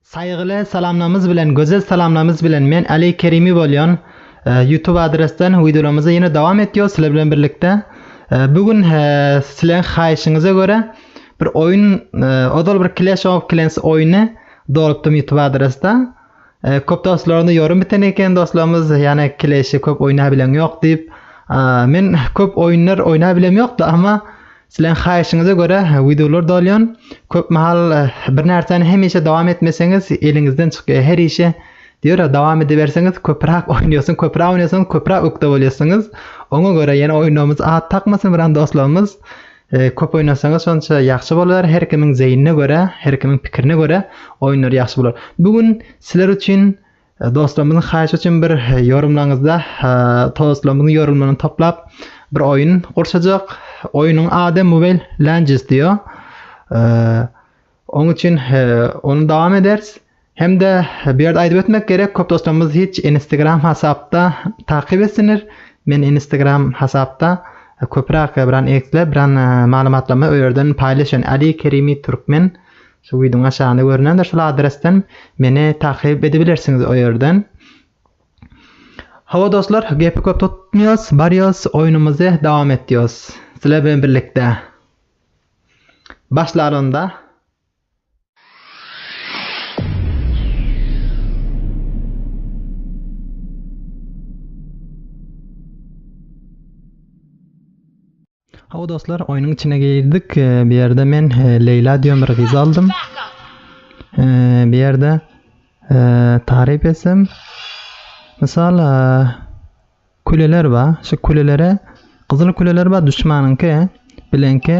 Saýgyly salamlarymyz bilen gözel salamlarymyz bilen men Aly Kerimi bolýan YouTube adresden wideolarymyzy ýene dowam etýos sizler bilen birlikde bu gün sizleriň haýyşyňyza görä bir oýun ozal bir Clash of Clans oýny dolupdym YouTube adresde köp dostlarymda ýorym biten eken dostlarymyz ýane Clash-i köp oýnabilen ýok diýip men köp oýunlar oýnabilen ýokda amma Sileň haýyşyňyza görä wideolar dolýan, köp mahal bir närsäni hemişe dowam etmeseňiz eliňizden çykýar her işe diýora dowam ediberseňiz köpüräk oýnaýasyň köpüräk oýnaýasyňyz köpüräk ökde bolýasyňyz oňa görä ýene oýnamyz at takmasyn biran dostlarymyz köp oýnasaňyz şonça ýagşy bolar her kimiň zeýnine görä her kimiň pikirine görä oýunlar ýagşy bolar bu gün sizler üçin Dostlarymyzyň haýyşy üçin bir ýorumlaňyzda dostlarymyzyň ýorumlaryny toplap bir oýun gurşajak. Oýunyň ady Mobile Legends diýýär. Oň üçin ony dowam ederis. Hem-de bu ýerde aýdyp ötmek gerek, köp dostlarymyz hiç Instagram hasapda takyp etsinler. Men Instagram hasapda köpräk biran eksle, biran maglumatlamy o ýerden paýlaşýan. Ali Kerimi Türkmen Şu widion aşagynda görünendir şul adresden meni takyp edibilersiňiz o ýerden. Hawa dostlar, gepi köp tutmýas, barýas, oýnumyzy dowam etýas. Sizler bilen birlikde. Başlar onda. Hawa dostlar, oýnuň içine girdik. Bu ýerde men Leýla diýen bir gyzy aldym. Bu ýerde taryp etsem, mysal küleler bar. Şu külelere gyzyl küleler bar, düşmanyňky, bileňki.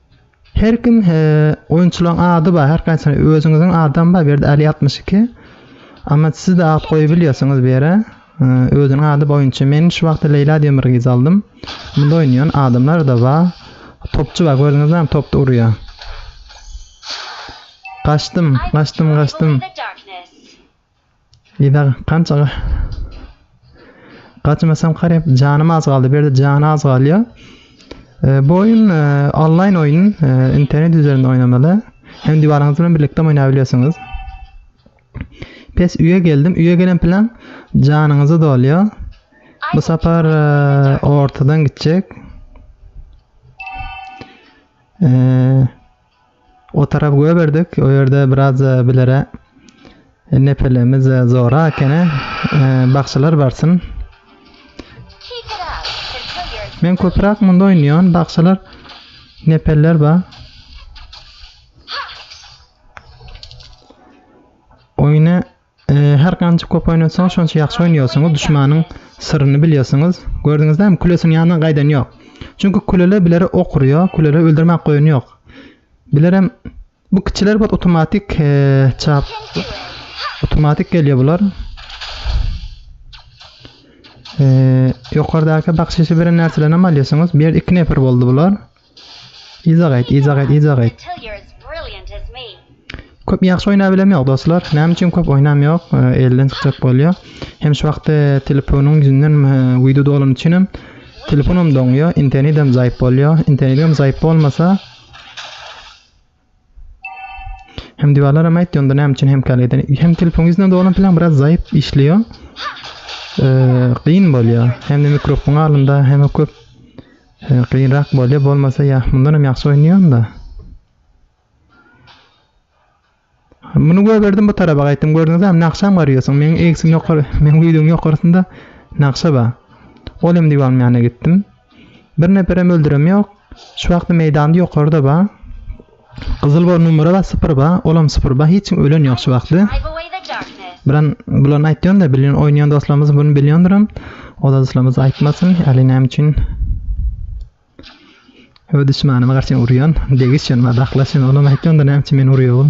Her kim he oýunçylaň ady bar her haýsy özüňiziň adam bar bu ýerde ali altmyş iki Amat sizde at goýubilýasiňiz bu ýere özüniň ady bar oýunçy men şu wagta Leýla diýen bir gyz aldym munda oýnaýan adamlar da bar topçy bar gördüňizmi topda urýar gaçdym gaçdym gaçdym Yza kança Gaçmasam karyp janym az galdy. Berde jany az galýar. E, bu oyun e, online oyun, e, internet üzerinde oynamalı. Hem diwarlarınız bilen birlikte oynayabiliyorsunuz. Pes üye geldim. Üye gelen plan canınızı doluyor. Bu sefer e, ortadan gidecek. Eee O tarap göberdik. O ýerde biraz bilere nepelemiz zora ekeni. Bagşylar barsyn. Men köpräk munda oýnaýan. Bagşylar nepeller ba. Oýny Her gança köp oýnatsaňyz şonça ýagşy oýnaýarsyňyz duşmanyň syryny bilýärsiňiz gördüňizdämi külesiniň ýanyna gaýdan ýok çünki küleler bileri ok urýar küleleri öldürmäk goýun ýok bilerem bu kiçiler bot otomatik çap otomatik gelýär bular ýokardaky bakşyşy beren närselerini hem alýarsyňyz bir ýerde iki neper boldy bular Yza gaýt, yza gaýt, yza gaýt. Köp ýagşy oýnap bilem ýok dostlar. Näme üçin köp oýnam ýok? Elden çykjak bolýar. Hem şu wagtda telefonyň ýüzünden wideo dolan üçin hem telefonum doňýar, internetem zaýp bolýar. Internetem zaýp bolmasa Hem diwarlar hem aýtdy onda näme üçin hemkärlik eden. Hem telefon ýüzüne dolan plan biraz zaýyp işliyor. Ee, gyn bolýar. Hem de mikrofon alynda hem köp e, gynrak bolýar. Bolmasa ya mundan hem ýagşy oýnaýan da. Muny göberdim bu taraba gaýtdym. Gördüňiz hem nakşam garýarsyň. Meň egsim ýokary, meň videoň ýokarysynda nakşa bar. Ol hem diwan ýanyna gitdim. Bir neperem öldürem ýok. Şu wagty meýdanda ýokarda ba. Gyzyl ba numara ba sypyr ba olam sypyr ba hiç kim ölen ýok şu wagty. Bilen bulan aýtýan da bilýän oýnaýan dostlarymyz bunu bilýändirim. O da dostlarymyz aýtmasyn. Ali näme üçin Ö düşmanyma garşy urýan, degiş ýanma daklaşyn, olam aýtýan da näme üçin meni urýan.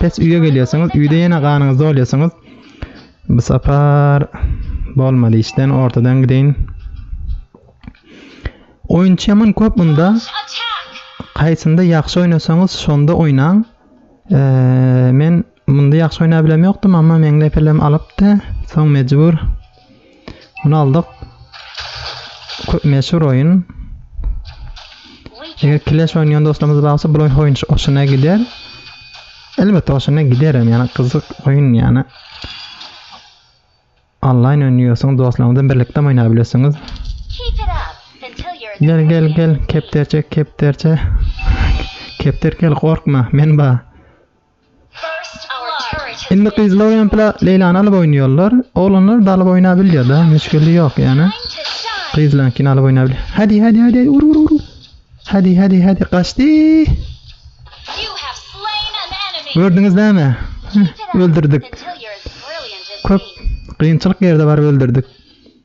Pes üýe gelýärsiňiz, üýde ýene ganyňyzy dolýarsyňyz. Bu sapar bolmady işden ortadan gideýin. Oýunçy ýaman köp munda. Kaýsynda ýagşy oýnasaňyz şonda oýnaň. Eee, men munda ýagşy oýnap bilemokdym, amma meňli epelem alypdy. Soň mejbur. Muny aldyk. Köp meşhur oýun. Eger kileş oýnaýan dostlarymyz barsa, bu oýun hoşuna gider. Elbetde hoşuna gider hem, ýani gyzyk oýun ýani. Onlaýn oýnaýarsyňyz, dostlaryňyzdan birlikde oýnap bilersiňiz. Gel, gel, gel, kepterçe, kepterçe. Kepter gel, gorkma, men bar. Indi gyzlar oýnapla Leýlany alyp oýnaýarlar. Oglanlar dalyp oýnap bilýärda, müşgili ýok ýani. Gyzlankini alyp oýnap bilýär. Hadi, hadi, hadi, ur, ur, ur. Hadi, hadi, hadi, gaçdy. Gördüňiz näme? Öldürdik. Köp gynçylyk ýerde bar öldürdik.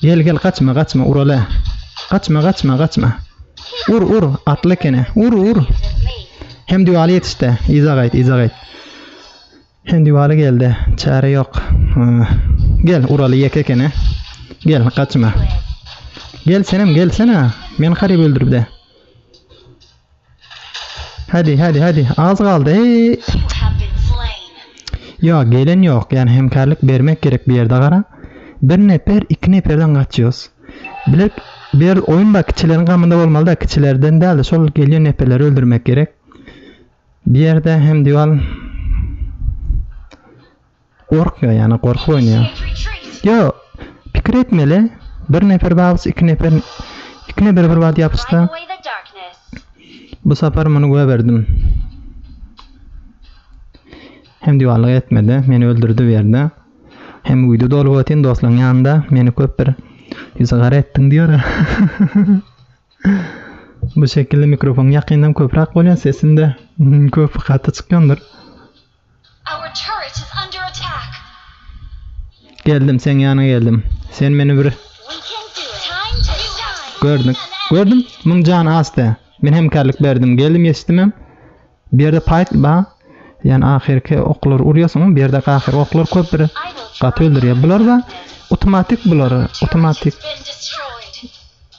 Gel gel gaçma gaçma uralä Gaçma gaçma gaçma Ur ur atly ekene ur ur Hem diwaly ýetişdä yza gaýt yza gaýt Hem diwaly geldä çäre ýok Gel uraly ýeke ekene Gel gaçma Gel senem gelsene men haryby öldüribdä. Hadi hadi hadi az galdy. Eee. Yo gelen yok yani hemkarlık bermek gerek bir yerde gara. Bir nefer iki neferden kaçıyoruz. Bilek bir oyun bak kiçilerin kamında olmalı da kiçilerden değil de şol geliyor neferleri öldürmek gerek. Bir yerde hem diyor Gorkýar ýa-ni gorkup oýnaýar. Ýo, pikir etmeli, bir nefer bagyç iki nefer iki nefer bir wagt ýapyşsa. Bu sapar muny göberdim. Hem diwallyk etmedi, meni öldürdi bu ýerde. Hem uýdy dolup otyn dostlaň ýanynda, meni köp bir ýüzi gara etdiň diýora. Bu şekilli mikrofon ýakyndan köprak bolýa sesinde köp gaty çykýandyr. Geldim seň ýanyňa geldim sen meni bir Gördüm gördüm muň jany asda men hemkarlyk berdim geldim ýetişdimem bu ýerde paýt ba ýany ahyrky oklary urýasyň bu ýerde ahyrky oklar köp bir gaty öldürýär bular ba otomatik bular otomatik.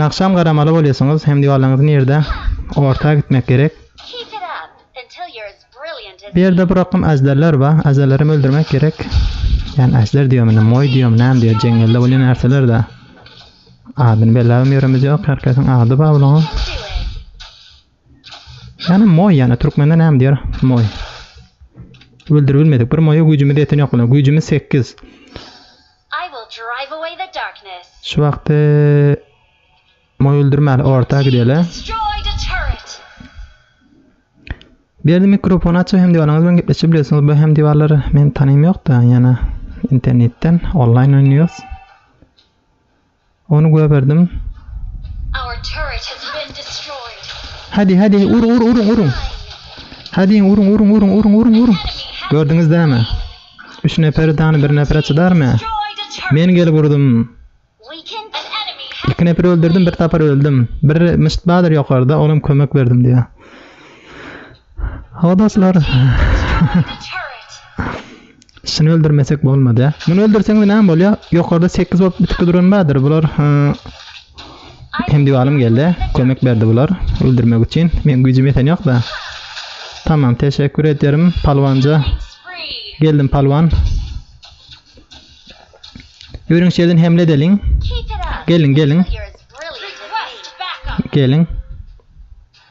Nagşam garamaly bolýasyňyz hem diwalaryňyzy nirde orta gitmek gerek. Bu ýerde bir akym äjderler bar. Äjderleri hem öldürmek gerek. Ýani äjder diýýämi indi moý diýýämi näme diýýä jeňňelde bolýan närseler da. Adyny belläbem ýöremizýok. Herkesiň ady bar bulaň. Ýani moý ýani türkmende näme diýer moý. Öldürip bilmedik. Bir moýa güýjümiz ýeten ýok bilen. Güýjümiz sekiz. Şu wagty moý öldürmäli orta gideli. Berdi mikrofon açyp hem diwalaryňyz bilen gepleşip bilesiňiz. Bu hem diwarlar men tanaýym ýok-da, ýana internetden onlaýn oýnuýas. Ony göberdim. Hadi, hadi, uruň, uruň, uruň, uruň. Hadiň, uruň, uruň, uruň, uruň, uruň, uruň. Gördüňiz dämi? Üç neperi dany bir nepere çydarmy? Men gelip urdum. Iki neperi öldürdim, bir tapar öldüm. Bir myşt bardyr ýokarda, olam kömek berdim diýýä. Hawa dostlar. Şuny öldürmesek bolmady. Muny öldürseňiz näme bolýar? Ýokarda 8 bolup bitip duran bardyr. Bular hem diwalym geldi. Kömek berdi bular öldürmek üçin. Men güýjüm ýeten ýok-da. Tamam, teşekkür ederim palwanja. Geldim palwan. Ýörüň şerden hemle edeliň. Gelin, gelin. Gelin.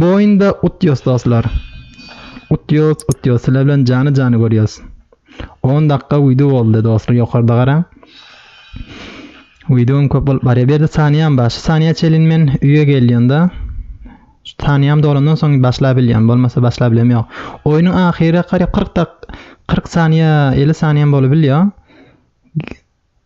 Bu oýunda utýas dostlar. Utýas utýas sizler bilen jany jany görýäs. 10 dakika wideo boldy dostlar ýokarda garaň. Wideom köp bolup barýar. Berdi saniýam bar. Şu saniýa çelin men üýe gelýände saniýam dolandan soň başlap bilýän. Bolmasa başlap bilem ýok. Oýnuň ahyry garyp 40 dak 40 saniýa 50 saniýam bolup bilýär.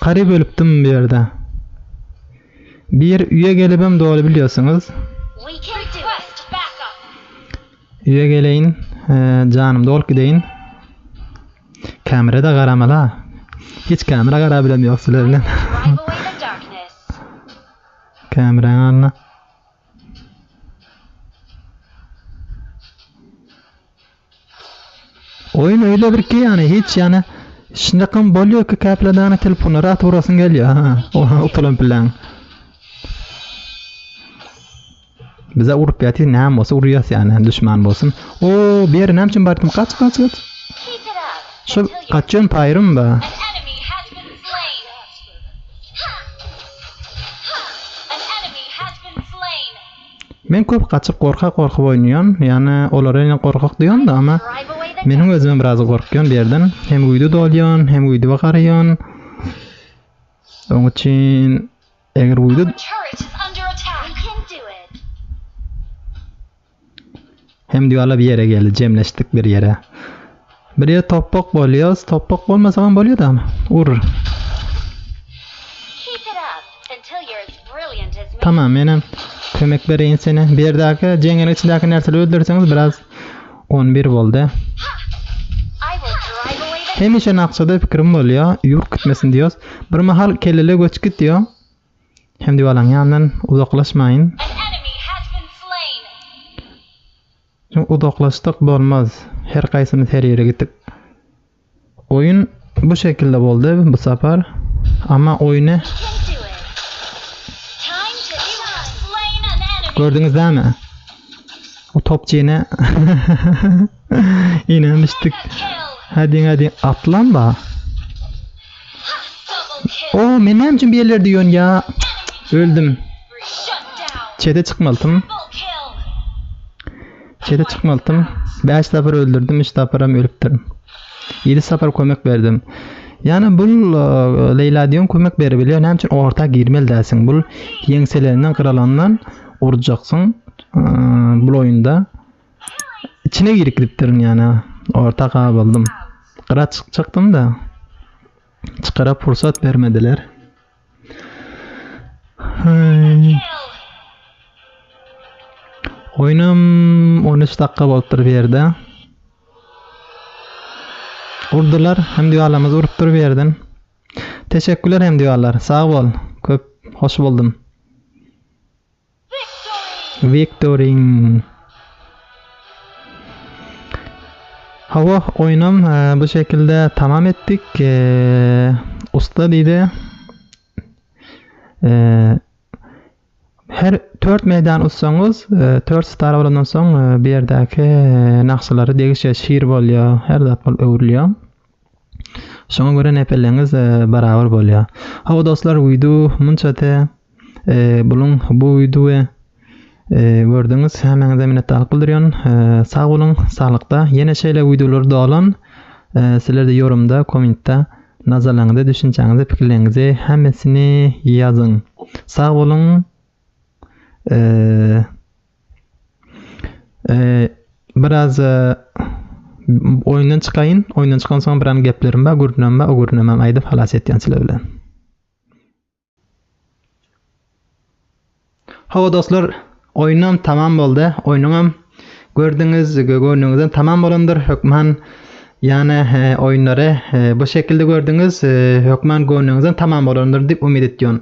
Garyp ölüpdim bu ýerde. Bir üýe gelibem doly bilýosiňiz. Üýe geleýin janym dolyp gideýin. Kamerada garamala. Hiç kamera garap bilem ýok sizler bilen. Kamerany alna. Oýun öýle bir ki ýany hiç ýany şundakam bolýa ki käpladana telefonlary atyp urasyň gelýä ha oha utulan pillaň. Bize urup ýaty näme bolsa urýas ýany düşman bolsun. O bir ýere näme üçin bardim kaç kaç kaç. Şu kaçýan paýrym ba. Men köp gaçyp gorka gorka oýnaýan ýane olara ýene gorkak diýanda ama meniň özümem biraz gorkýan bir ýerden hem uýda dolýan hem uýda garaýan oň üçin eger uýda Hemdygala bir ýere geldi, jemleşdik bir ýere. Bir ýer topbak bolýas, topbak bolmasagam bolýada. Ur. Tamam, menem kömek bereýin sene. Bir ýerdäki jeňňeliň içindäki närseli öldürseňiz biraz 11 boldy. Hemişe nakçada pikirim bolýa, ýurt gitmesin diýos. Bir mahal kellele göç gitýa. Hemdi balaň ýanyndan uzaklaşmaýyn. Çünki uzaklaşsak bolmaz. Her kaýsymyz her ýere gitip. Oýun bu şekilde boldy bu sapar. Ama oýny Gördüňiz dämi? O topçy ýene ýene düşdük. Hadi hadi atlan ba. O men näme üçin bu ýerlerde ýörün ýa öldüm. Çete çykmaltym. Çete çykmaltym. 5 sapar öldürdim, 3 saparam ölüpdirin. 7 sapar kömek berdim. Ýani bul e, Leýla diýen kömek berip bilýär. Näme üçin orta girmeli dälsiň? Bul ýeňselerinden gyralandan urjaksyň e, bul oýunda. Içine girip gidipdirin ýana. Orta gabyldym. Gyra çykjakdym-da. Çykara pursat bermediler. Hey. Oýnam 13 dakika bolupdyr bu ýerde. Urdular, hem diýalamyz urupdyr bu ýerden. Teşekkürler hem diýalar, sag bol. Köp hoş boldum. Wiktorin. Hawa, oýnam bu şekilde tamam etdik. Usta diýdi. Her 4 meýdan utsaňyz, 4 star bolandan soň bu ýerdäki nagşalary degişe şir bolýar, her zat bolup öwrülýär. Şoňa görä nepeleňiz barabar bolýa. Hawa dostlar wideo munça te buluň bu wideo gördüňiz hemäňize minnetdarlyk bildirýän. Sag boluň, saglykda. Ýene şeýle wideolar dolan. Sizlerde ýorumda, kommentda nazarlaňyzy, düşünjäňizi, pikirleňizi hemmesini ýazyň. Sag boluň. Eee Ee, biraz e, oýundan çykaýyn. Oýundan çykan soň bir an geplerim bar, gürrüňim bar. O gürrüňi hem aýdyp halas etýän sizler bilen. Hawa dostlar, oýnum tamam boldy. Oýnuňam gördüňiz, göwnüňizden tamam bolandyr. Hökman Ýane oýunlary bu şekilde gördüňiz hökman göwnüňizden tamam bolandyr diýip umyt etýon.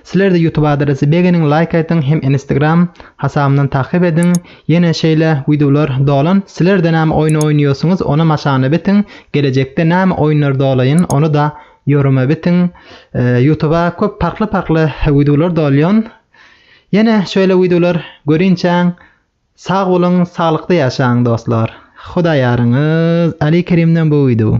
Sizlerde YouTube adresi begeniň laýk aýtyň hem Instagram hasabymdan takyp ediň ýene şeýle wideolar dolan sizlerde näme oýun oýnaýosyňyz onam aşagna betiň gelejekde näme oýunlar dolaýyn ony da ýoruma betiň YouTube-a köp parkly parkly wideolar dolýon ýene şeýle wideolar görinçäň Sag boluň saglykda ýaşaň dostlar. Huda ýaryňyz Aly Kerimden bu wideo.